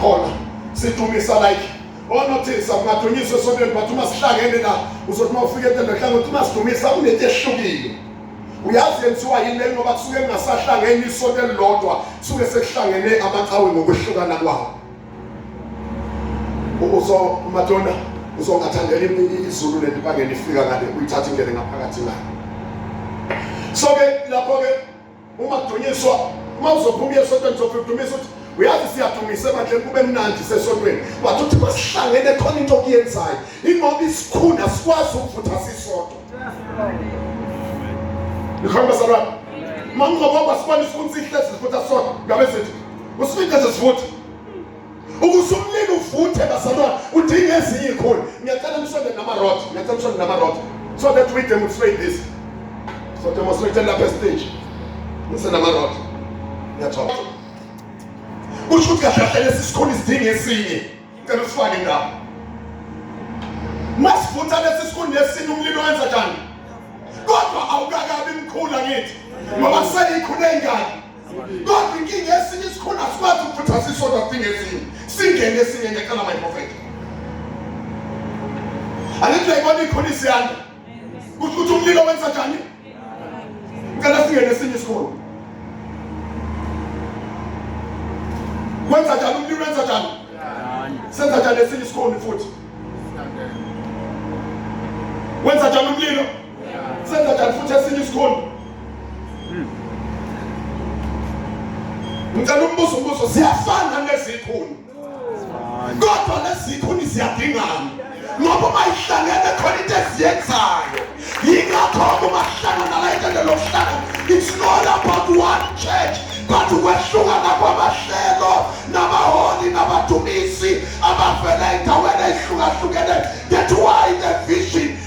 khona sidumisa like onothisa oh, kungadunyiswa esonweni but uma sihlangene la uzothi uma ufike entendohlanga uthi uma sidumisa kunento ehlukile uyazi yenziwa yini le ngoba kusuke kungasahlangene isonto elilodwa kusuke sekuhlangene amaqhawe ngokwehlukana kwawo uzo madonna uzongathandela izulu lento bangene ifika ngale uyithatha ingene ngaphakathi nayo so ke lapho ke ungadunyiswa uma uzophuma uye esontweni uzofika udumise uthi uyazi siyadumise bandle kube mnandi sesontweni wathi uthi kwasihlangene khona into okuyenzayo ingoba isikhunda sikwazi ukuvutha sisodwa nikhomba salwana uma ungobaba sibona isikhunda sihlezi sivutha sodwa ngabe sithi usifice sesivutha ukuze umlilo uvuthe bazalwane udinga ezinye ikhulu ngiyacela nisonde namarod ngiyacela nisonde namarod so that we demonstrate this so demonstrate lapha estage ngisenamarod ngiyathola kusho ukuthi kahle kahle lesi sikhulu isidinga esinye ngicela usifake ndawo masivutha lesi sikhulu nesinye umlilo wenza njani kodwa awukakabi mkhulu angithi ngoba seyikhulu engaki Kodwa inkinga esinye isikhona sikwazi ukukhuthaza isodwa kudinga ezinye. Singene esinye ngecela my prophet. Alithi uyayibona ikhona isiyanda. Kusho ukuthi umlilo wenza njani? Ngicela singene esinye isikhona. Wenza njani umlilo wenza njani? Senza njani esinye isikhona futhi? Wenza njani umlilo? senza njani futhi esinye isikhulu hmm. ngicela umbuzo umbuzo siyafana nezikhulu kodwa lezikhuni ziyadingana ngoba uma ihlangene khona into eziyenzayo yingakho-ke uma sihlangana la intende lokuhlangana it's not about one church but ukwehlukana kwamahlelo nabaholi nabadumisi abavela endaweni eyihlukahlukene that why the vision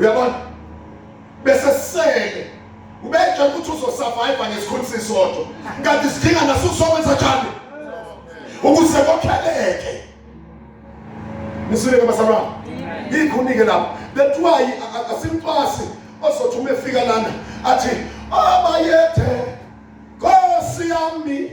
uyabona bese sele ubetshela ukuthi uzosurvive ngesikhulu sisodwa kanti sidinga naso sokwenza njani ukuze kokheleke nisileke basalwana yikho unike lapho that's why asimcwasi ozothi uma efika lana athi abayethe nkosi yami